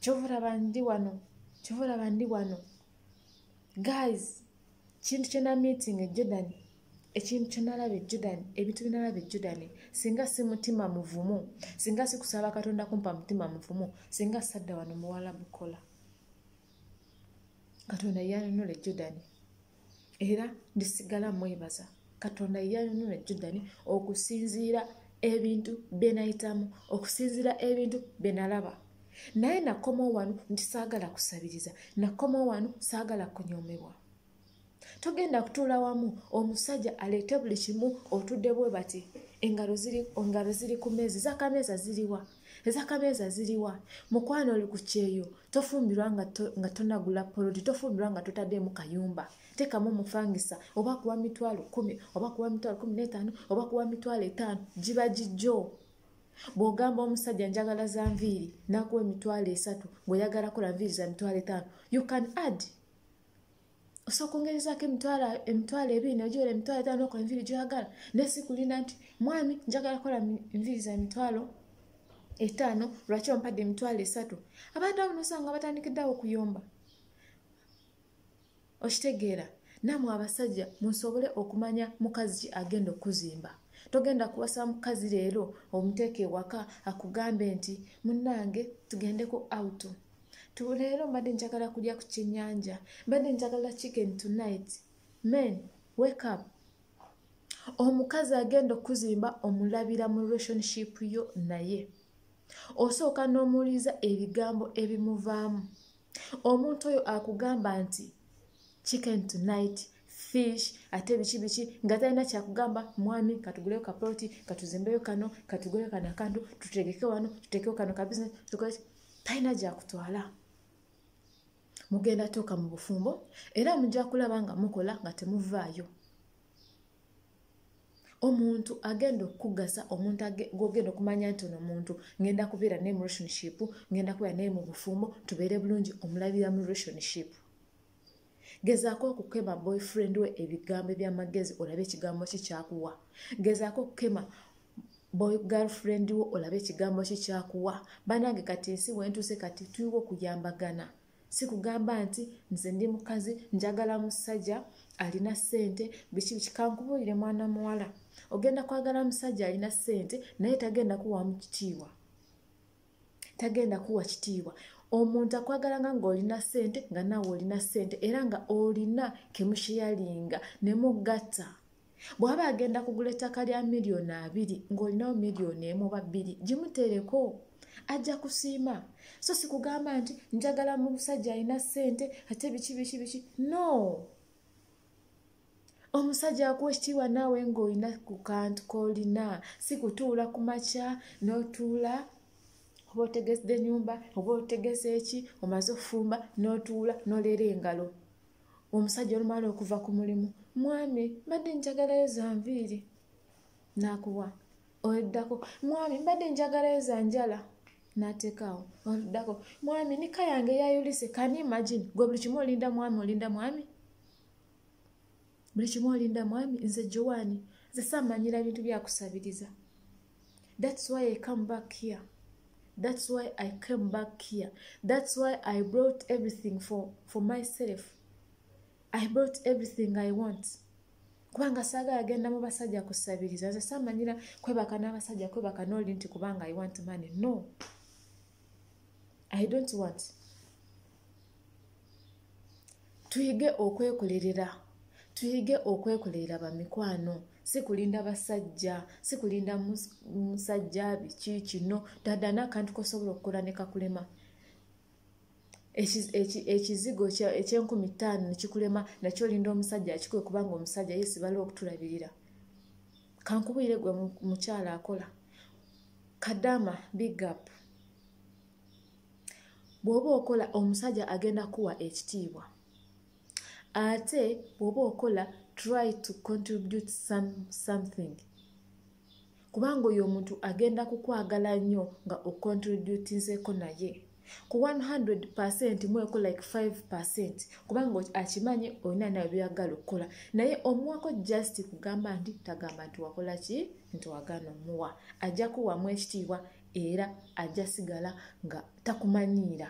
kyovulaba ndi wano kyovulaba ndi wano guys kintu kyona meeting ejordan ekintu kyenalaba ejordan ebintu byenalaba ejordan singa si mutima muvumu singa si kusaba katonda kumpa mutima muvumu singa sadda wano muwala bukola katonda yanunula ejordan era ndisigala mwebaza katonda yanunula judani okusinziira ebintu byenayitamu okusinziira ebintu byenalaba naye nakomawo wano nti saagala kusabiriza nakomawo wano saagala kunyomebwa togenda kutuula wamu omusajja aleete buli kimu otudde bwe bati engalo ziri ku meezi zakameeza ziriwa ezakameeza ziriwa mukwano oli ku kyeyo tofumbirwa nga tonagula poloti tofumbirwa nga totaddeemu kayumba tekamu omufangisa oba kuwa mitwalo kumi oba kuwa mitwalo kumi n'etaano oba kuwa mitwalo etaano giba gijjo bw'ogamba omusajja njagala za nviiri nakuwa emitwalo esatu bweyagala kola nviiri za mitwalo etaano you can add osooka ongerezaako emitwalo ebiri nagyola emitwalo etaano okola enviiri gyoyagala naye si kulinda nti mwami njagala kola enviiri za mitwalo etaano lwaki ompadde emitwalo esatu abantu abo nosanga batandikiddeawo okuyomba okitegeera namwe abasajja musobole okumanya mukazi ki agenda okuzimba togenda kuwasa mukazi leero omuteeka ewaka akugambe nti munange tugendeko out tuleero mbadde njagala kulya ku kyenyanja mbadde njagala chicken tonight men wake up omukazi agenda okuzimba omulabira mu relationship yo naye osooka n'omuwuliza ebigambo ebimuvaamu omuntu oyo akugamba nti chicken tonight fish ate biki biki nga talina kyakugamba mwami katuguleyo kaploti katuzimbeyo kano katuguleyo kano akantu tutegeke wano tutekeyo kano kabisiness tukole talina gyakutwala mugenda tuuka mu bufumbo era mujja kulaba nga mukola nga temuvaayo omuntu agenda okukugasa omuntu gwogenda okumanya nti ono omuntu ngenda kubeera naye mu relationship ngenda kubeera naye mu bufumbo tubeere bulungi omulabira mu relationship gezaako okukema boyfriend we ebigambo ebyamagezi olabe ekigambo ki kyakuwa gezaako okukema boy girlfriend wo olabe ekigambo ki kyakuwa banange kati ensi wentuuse kati tuyiwa okuyambagana sikugamba nti nze ndi mukazi njagala musajja alina sente biki biki kankubuulire mwana muwala ogenda kwagala musajja alina sente naye tagenda kuwamu kitiibwa tagenda kuwa kitiibwa omuntu akwagala nga ngaolina sente nga naawe olina sente era nga olina kemusheyalinga ne mugatta bw'aba agenda kugula ettaka lya miliyoni abiri ng'olinawo miliyoni emu oba bbiri gimutereko ajja kusiima so si kugamba nti njagala mu musajja alina ssente ate biki biki biki no omusajja akuwa ekitiibwa naawe ng'olina ku kantu k'olina si kutuula ku makya n'otuula oba otegese enyumba oba otegese eki omaze okufumba n'otuula n'oleera engalo omusajja olumaala okuva ku mulimu mwami mbadde njagalayo za nviiri nakuwa oluddako mwami mbadde njagalayo za njala nateekaawo oluddako mwami nika yange yayulise kani imagine gwe buli kimu olinda mwami olinda mwami buli kimu olinda mwami nze jowaani nze samanyira bintu byakusabiriza that's why i come back here that's why i came back here that's why i brought everything for, for myself i brought everything i want kubanga saagala agenda mu basajja kusabiriza nze samanyira kwebaka n'abasajja kwebaka nooli nti kubanga i want money no i don't want tuyige okwekolerera tuyige okwekolerera bamikwano si kulinda basajja si kulinda musajja biki kino dada nakantu kosobola okukola ne kakulema ekizigo ekyenkumi ttaano nekikulema nakyo olinda omusajja akikuwe kubanga omusajja ye sibala okutulabirira kankubuyire gwe mukyala akola kadama big up bw'oba okola omusajja agenda kuwa ekitiibwa ate bw'oba okola try to contribute some, something kubanga oyo omuntu agenda kukwagala nnyo nga ocontributinzeeko naye ku 100 percent mweko like 5 percent kubanga akimanyi olina nawe byagala okukola naye omuwako just kugamba nti tagamba nti wakola ki nti wagana omuwa ajja kuwamu ekitiibwa era ajja sigala nga takumanyiira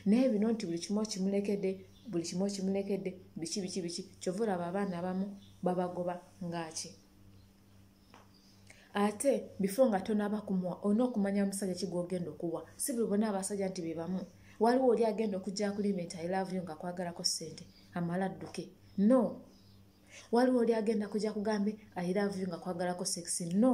naye bino nti buli kimu okimulekedde buli kimu okimulekedde biki biki biki kyova olaba abaana abamu babagoba ngaaki ate bifo nga tonaba kumuwa olina okumanya musajja kigwogenda okuwa si buli bona abasajja nti bebamu waliwo oli agenda okujja kulima nti ilavuyo nga kwagalako sente amala adduke no waliwo oli agenda kujja kugambe ilavuyo nga kwagalako sexi no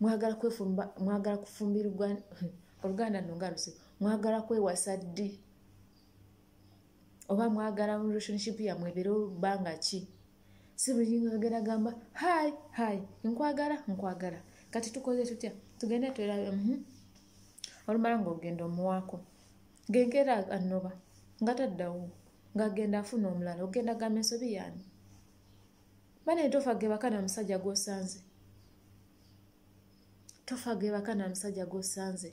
mwagala kwefumba mwagala kufumbirwa oluganda no nga lusi mwagala kwewasa ddi oba mwagala mu relationship yamwe ebeere olubanga ki si buli ngagera gamba hi hi nkwagala nkwagala kati tukoze tutya tugende twerabe mm -hmm. olumala ngaogenda omuwaako genkeera anoba nga taddawo ng'agenda afuna omulala ogenda gamba ensobi yaani bane tofa gebaka na musajja gwosanze tofa gebaka na musajja gwosanze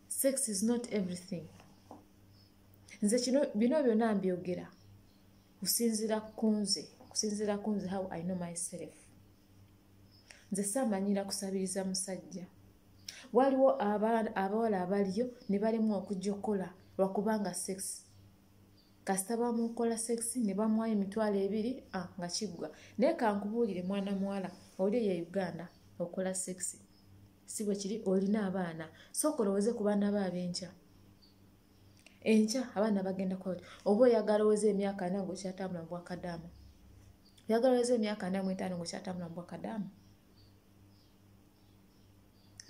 sex is not everything nze kino bino byona mbyogera kusinzira kunze kusinzira kunze how i know myself nze samanyira kusabiriza musajja waliwo abawala abaliyo ne balemwa okujja okukola lwakubanga sex kasita bamukola sex ne bamwayo emitwalo ebiri ah, nga kiggwa naye kankubuulire mwana muwala oli eyo uganda okola sex si bwe kiri olina abaana sooka olowooze ku baana bo ab'enkya enkya abaana bagenda kuba oba oyagala oweze emyaka ana ngaokyatambula mu bwakadaama oyagala oweze emyaka ana mu etaano ngaokyatambula mu bwakadaama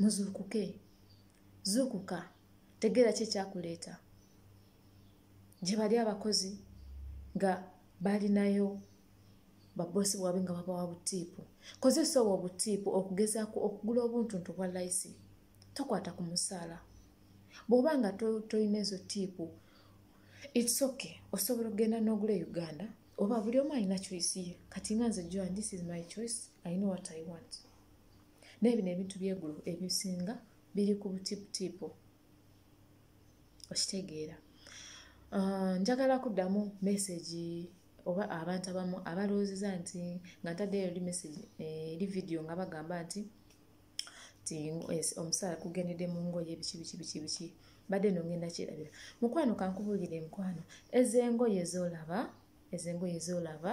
muzuukuke zuukuka tegeera ki ekyakuleeta gye bali abakozi nga balinayo babosi bwabwe nga babawa butiipu kozesa obwo obutiipu okugezaako okugula obuntuntu obwa layisi tokwata ku musaala bw'oba nga tolina ezo tiipu its ok osobola okugenda n'ogula e uganda oba buli omu alina choice ye kati nga nze joan this is my choice i know what i want naye bino ebintu byegulu ebisinga biri ku butiputipu okitegeera ah, njagala kuddamu mesagi oba abantu abamu abalowoozeza nti nga ntaddeyo eri mesagi eh, eri vidiyo nga bagamba nti ti eh, omusaala kugendedde mu ngoye biki biki biki biki mbadde no ngenda kirabira mukwano kankubulire mukwano ezengoye zolaba ezengoye zolaba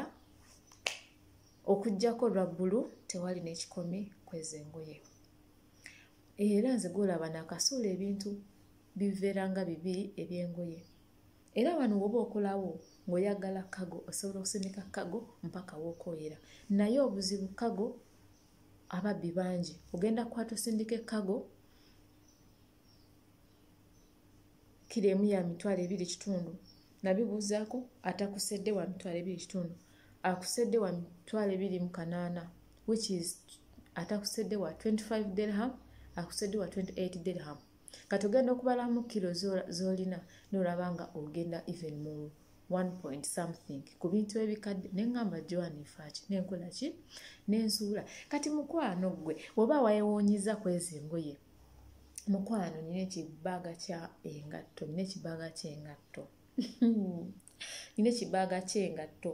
okujjako lwaggulu tewali n'ekikomi kwezengoye era nze gwolaba nakasuula ebintu biveera nga bibi ebyengoye era wano woba okolawo ngaoyagala kago osobola okusindika kago mpaka wokoyera naye obuzibu kago ababbi bangi ogenda kukwata osindika ekago kiro emu ya mitwalo ebiri kitundu nabibuuzaako atakusedde wa mitwalo ebiri kitundu akusedde wa mitwalo ebiri mu kanaana which is atakusedde wa 25 dirham akusedde wa 28 dirham kati ogenda okubalamu kiro zolina nolaba nga ogenda even mu one point something ku bintu ebikadde neŋamba joani faaki nenkola ki nensuula kati mukwano ggwe oba wayewuunyiza kwezi engoye mukwano nina ekibaaga kya engatto nina ekibaaga kyengatto nina ekibaaga kyengatto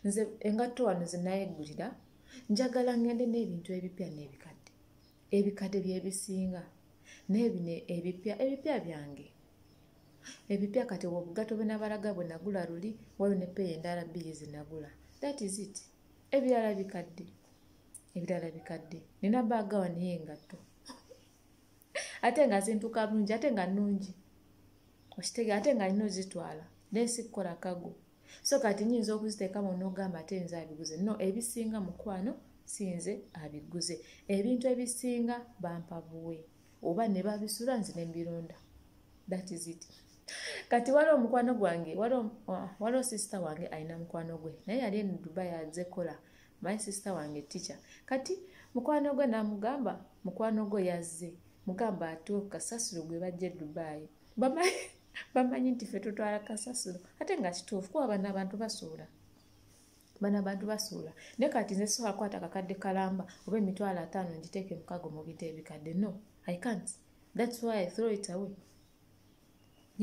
nze engatto wano zenayegulira njagala ngende n'ebintu ebipya n'ebikadde ebikadde byebisinga naye bino ebipya ebipya byange ebipya kati obugato bwenabalaga bwenagula luli waliwo nepeeya endala bbiri zenagula that is it ebirala bikadde ebirala bikadde nina baaga wano yengatto ate nga zintuka bulungi ate nga nungi okitege ate nga nina ozitwala naye sikukola kago so kati nyinza okuziteekamu nogamba ate nze abiguze no ebisinga mukwano sinze abiguze ebintu ebisinga bampa buwe oba ne babisula nze ne mbironda that is it kati waliwo omukwano gwange waliwo ah, sisita wange alina mukwano gwe naye yali eno dubai azekola my sister wange teacher kati mukwano gwe namugamba mukwano gwe yazze mugamba atuwe ku kasasiro gwe bajja e dubayi bamanyi nti fe tutwala kasasiro ate nga kituufu kuba bana abantu basuula bana abantu basuula naye kati nze sobola kwata kakadde kalamba oba emitwalo ataano ngiteeke mukago mu bita ebikadde no i can't thats why i throw it away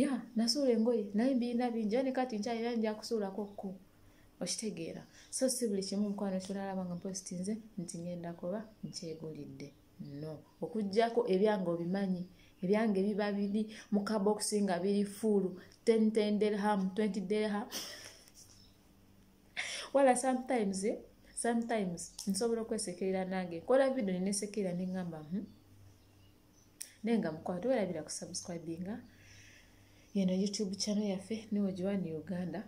ya nasuula engoye naye mbirina bingi ani kati nkyalina nja kusuulako kku okitegeera so si buli kimu mukwano kyolalaba nga mposti nze nti ngenda kuba nkyegulidde no okugyako ebyange obimanyi ebyange biba biri mu kabokisi nga biri fuulu ten ten derham twenty derham wala sometimes eh? sometimes nsobola okwesekerera nange nkola video nenesekerera nengamba hmm? naye nga mukwano tewerabira ku subscribinga yeno youtube channel yaffe niwo giwani uganda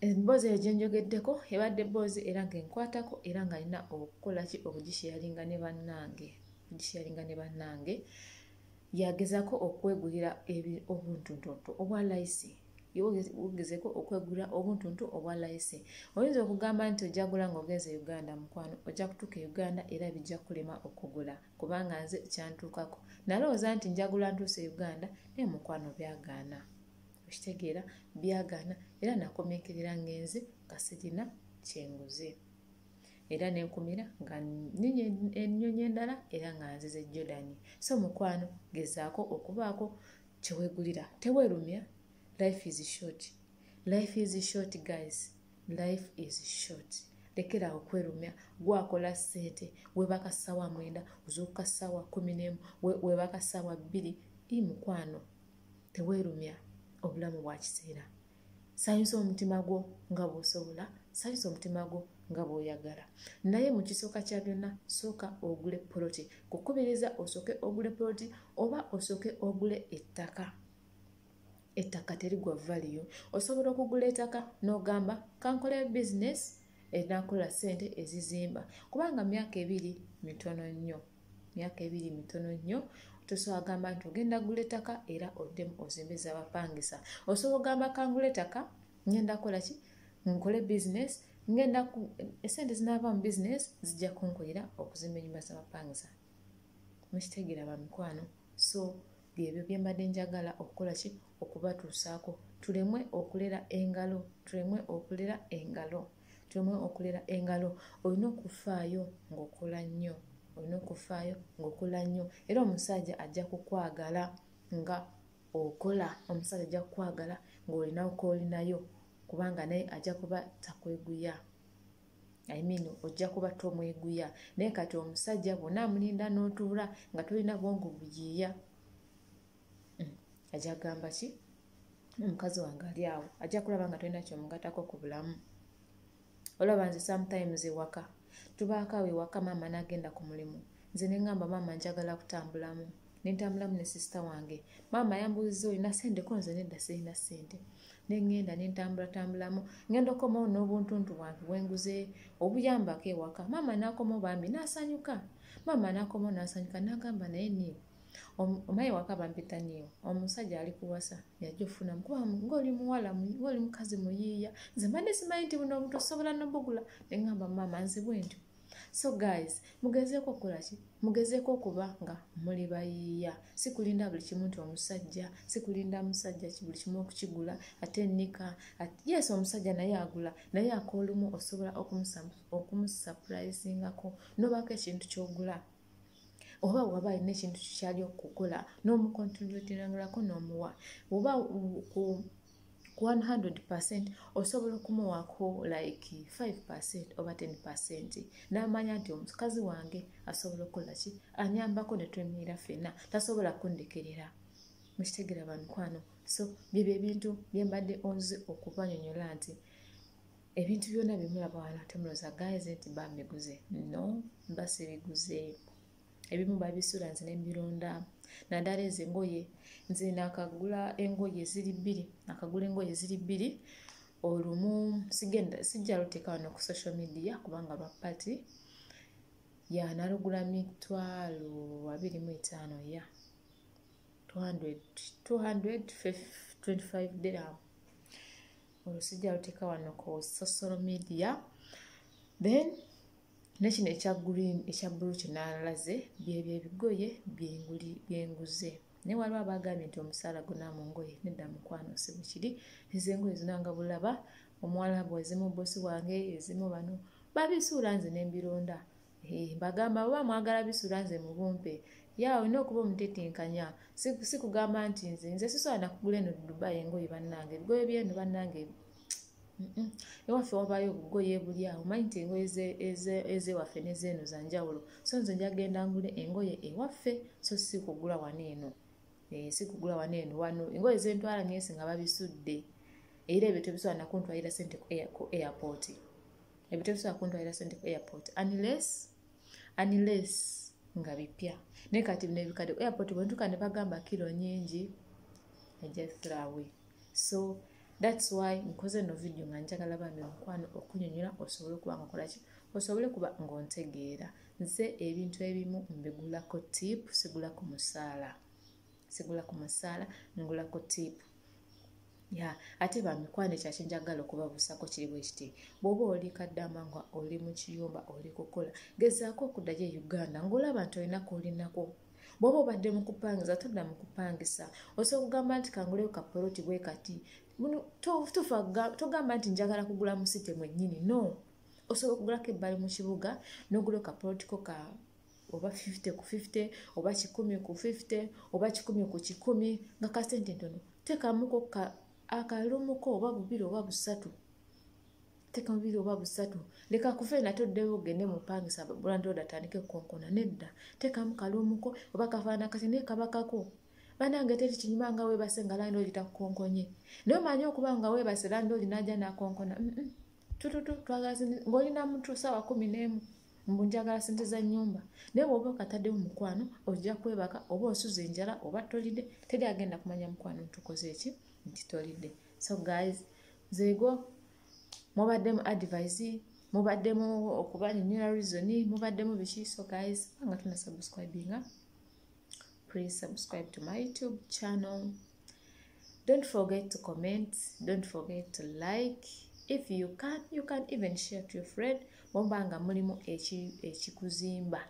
emboozi eyo gyenjogeddeko ebadde bboozi era nga enkwatako era nga alina okukola ki okugisheyalinga ne bannange okugisheyalinga ne bannange yagezako okwegulira obuntuntuntu obwa layisi wogezeko okwegula obuntuntu obwa layisi oyinza okugamba nti ojagula nga ogenze uganda mukwano ojja kutuuka e uganda era bijja kulema okugula kubanga nze kyantuukako nalowooza nti njagula ntuuse e uganda naye mukwano byagaana okitegeera byagaana era nakomekerera ngenze nga sirina kyenguze era nenkumira nga nyonyi ennyonyi endala era nga nzize jordan so mukwano gezaako okubaako kyewegulira tewerumya life is short life is short guys life is short lekeraawo kwerumya gwakola sente webaka sawa mwenda ozuuka sawa kumi nemu webaka sawa bbiri i mukwano tewerumya obulamu bwakiseera sanyusa omutima gwo nga bw'osobola sanyusa omutima gwo nga bw'oyagala naye mu kisooka kya byonna sooka ogule poloti kukubiriza osooke ogule poloti oba osooke ogule ettaka ettaka terigwa valiyo osobola okugula ettaka n'ogamba kankola bizinesi enakola sente ezizimba kubanga myaka ebiri mitono nnyo myaka ebiri mitono nnyo tosobola gamba nti ogenda gula ettaka era oddemu ozimbe zabapangisa osobola ogamba kangula ettaka ngenda kola ki nkole bizinesi ngenda esente zinaava mu bizinesi zijja kunkolera okuzimba enyumba zabapangisa mukitegeera bamikwano so byebyo bye mbadde njagala okukola ki okubatuusaako tulemwe okulera engalo tulemwe okulera engalo tulemwe okulera engalo olina okufaayo ng'okola nnyo olina okufaayo ng'okola nnyo era omusajja ajja kukwagala nga okola omusajja ajja kukwagala ng'olinawo koolinayo kubanga naye ajja kuba takweguya I mean ojja kuba tomweguya naye kati omusajja bwona amulinda n'otuula nga tolina bwongo buyiiya hmm, ajja kugamba ki omukazi wange ali awo ajja kulaba nga tolina kyomugatako ku bulamu olaba nze sometimes ewaka tubaako awo ewaka maama n'agenda ku mulimu nze ne ŋŋamba maama njagala kutambulamu nentambulamu ne sisita wange maama yambuuziza olina sente ko nze nedda sirina sente nengenda nentambulatambulamu ngenda okomawo n'obuntuntu bwange bwenguze obuyambako ewaka maama nakomawo bambi nasanyuka maama nakomawo nasanyuka nagamba naye niyo omaye waka bampita niyo omusajja ali kuwasa yajja ofunamu kuba ngaoli muwala ngaoli mukazi muyiiya nze mbadde simanyi nti buno obutosobola nobugula nengamba maama nze bwentyo so guys mugezeeko okukolaki mugezeeko okuba nga muli bayiiya sikulinda buli kimu nti omusajja sikulinda musajja buli kimu okukigula ate nika yes omusajja naye agula naye akoolumu osobola okumusapurayizingako nobaako ekintu kyogula oba waba alina ekintu kikyali okukola n'omukontroletinangirako n'omuwa oba 100 osobola okumuwaako like 5 oba 10 n'amanya nti omukazi wange asobola okukola ki anyambako ne twemiira fenna tasobola kundekerera mukitegera bamukwano so byebyo ebintu byembadde onzi okubanyonyola nti ebintu byona byemulaba wano temuloza guys nti bambiguze no mba sibiguze ebimu babisula nze nembironda naddala ezo engoye nze nakagula engoye ziri bbiri nakagula engoye ziri bbiri olumu sigenda sijja luteeka wano ku social media kubanga lwa pati ya nalugula mitwalo abiri mu etaano ya 225 diram olwo sijja luteeka wano ku social media then nekino ekya green ekya bulu kyenalaze byebyo ebigoye byenguze naye waliwo abagambye nti omusaala gona mu ngoye nedda mukwano sibukiri ezengoye zinanga bulaba omuwalabu ezimu bosi wange ezimu bano babisuula nze nembironda mbagamba oba mwagala bisula nze mubumpe ya olina okuba omutetenkanya sikugamba nti nze nze sisobola nakugula eno dubai engoye bannange ebigoye byeno bannange ewaffe wabayo obugoye buli awo manyi nti engoye ezewaffe nezeeno zanjawulo so nze njagenda ngule engoye ewaffe so si kugula wano eno eh, si kugula wano eno wano engoye zentwala nyesi nga babisudde era ebyo tebisobola nakuntwalira sente ku airport ebyo tebisobola kuntwalira sente ku airport unless unless nga bipya naye kati bino ebikadde ku airport bwentuka ne bagamba kiro nyingi ejathrawe so thats why nkoze no vidiyo nga njagala bambi omukwano okunyonyola osobole okuba nga okolaki osobole kuba ngaontegeera nze ebintu ebimu mbigulako tipu sigula ku musaala sigula ku musaala ngulako tipu ya ate bamikwano ekyo akinjagala okubabusako kiri bwekiti bwoba oli kaddama nga oli mu kiyumba oli kukola gezaako okuddayo e uganda ngaolaba nti olinaku olinako bwoba obadde mukupangiza todda mukupangisa osobola okugamba nti kanguleyo kapoloti bwe kati togamba nti njagala kugula musite mwennyini no osobola okugulako ebbali mu kibuga nogula kapolotiko ka oba 50 ku 50 oba 1 ku 50 oba 1 ku 1 nga kasente ntono tekamuko akalumuko oba bubiri oba busatu teka bubiri oba busatu leka kuva ena toddeyo ogende mupangisa bulandoda atandike kukonkona nedda tekamu kalumuko oba kafaana kati naye kabakako banange teri kinyuma nga webase nga landooli takukonkonye naye omanyi okuba nga webase landooli naja nakonkona tututu twagala ngaolina mutu sawa kumi nemu mbu njagala sente za nyumba naye woba okataddemu mukwano ojja kwebaka oba osuza enjala oba tolidde teri agenda kumanya mukwano ntukoze eki nti tolidde so guys nzego mubaddemu advise mubaddemu okubanyonyola reason mubaddemu biki so guys nga tuna subscribinga please subscribe to my youtube channel don't forget to comment don't forget to like if you can you can even share to your friend muba nga mulimu ekikuzimba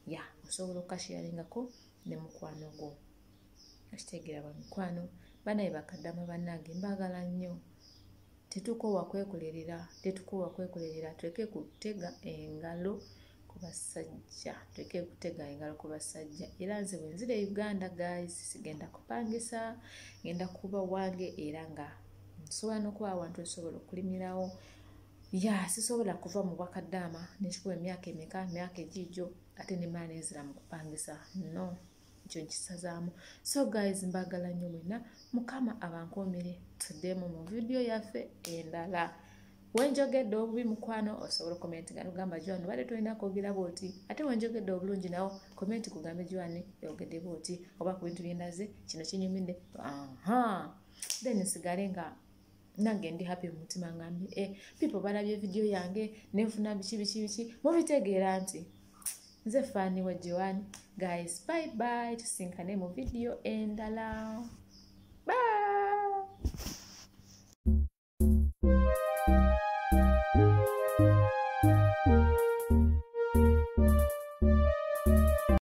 ya osobola okukashiyaringako ne mukwano gwo okitegeera bamikwano banaye bakadama banange mbagala nnyo tetukoowa kwekolerera tetukoowa kwekolerera tuleke kutega engalo ku basajja tuleke kutega engalo ku basajja era nze bwenzira e uganda guys sigenda kupangisa ngenda kuba wange era nga nsobola nokuba awantu nsobola okulimirawo ya sisobola kuva mu bwakaddaama nekikuba emyaka emeka myaka egiijo ate nemala nenzira mu kupangisa no ekyo nkisazaamu so guys mbagala nnyo mwena mukama abankuumire tuddemu mu vidiyo yaffe endala wenjogedde obubi mukwano osobola okomenti nga nogamba juani obadde tolina kwogera bwoti ate wenjogedde obulungi nawo komenti kugambe juani yogedde bwoti oba ku bintu byendaze kino kinyumidde aha then nsigale nga nange ndi happy mu mutima ngambi e eh, people balabye vidiyo yange nenfuna biki biki biki mubitegeera nti nze faani wa joan guys bye bye tusinkane mu vidiyo endala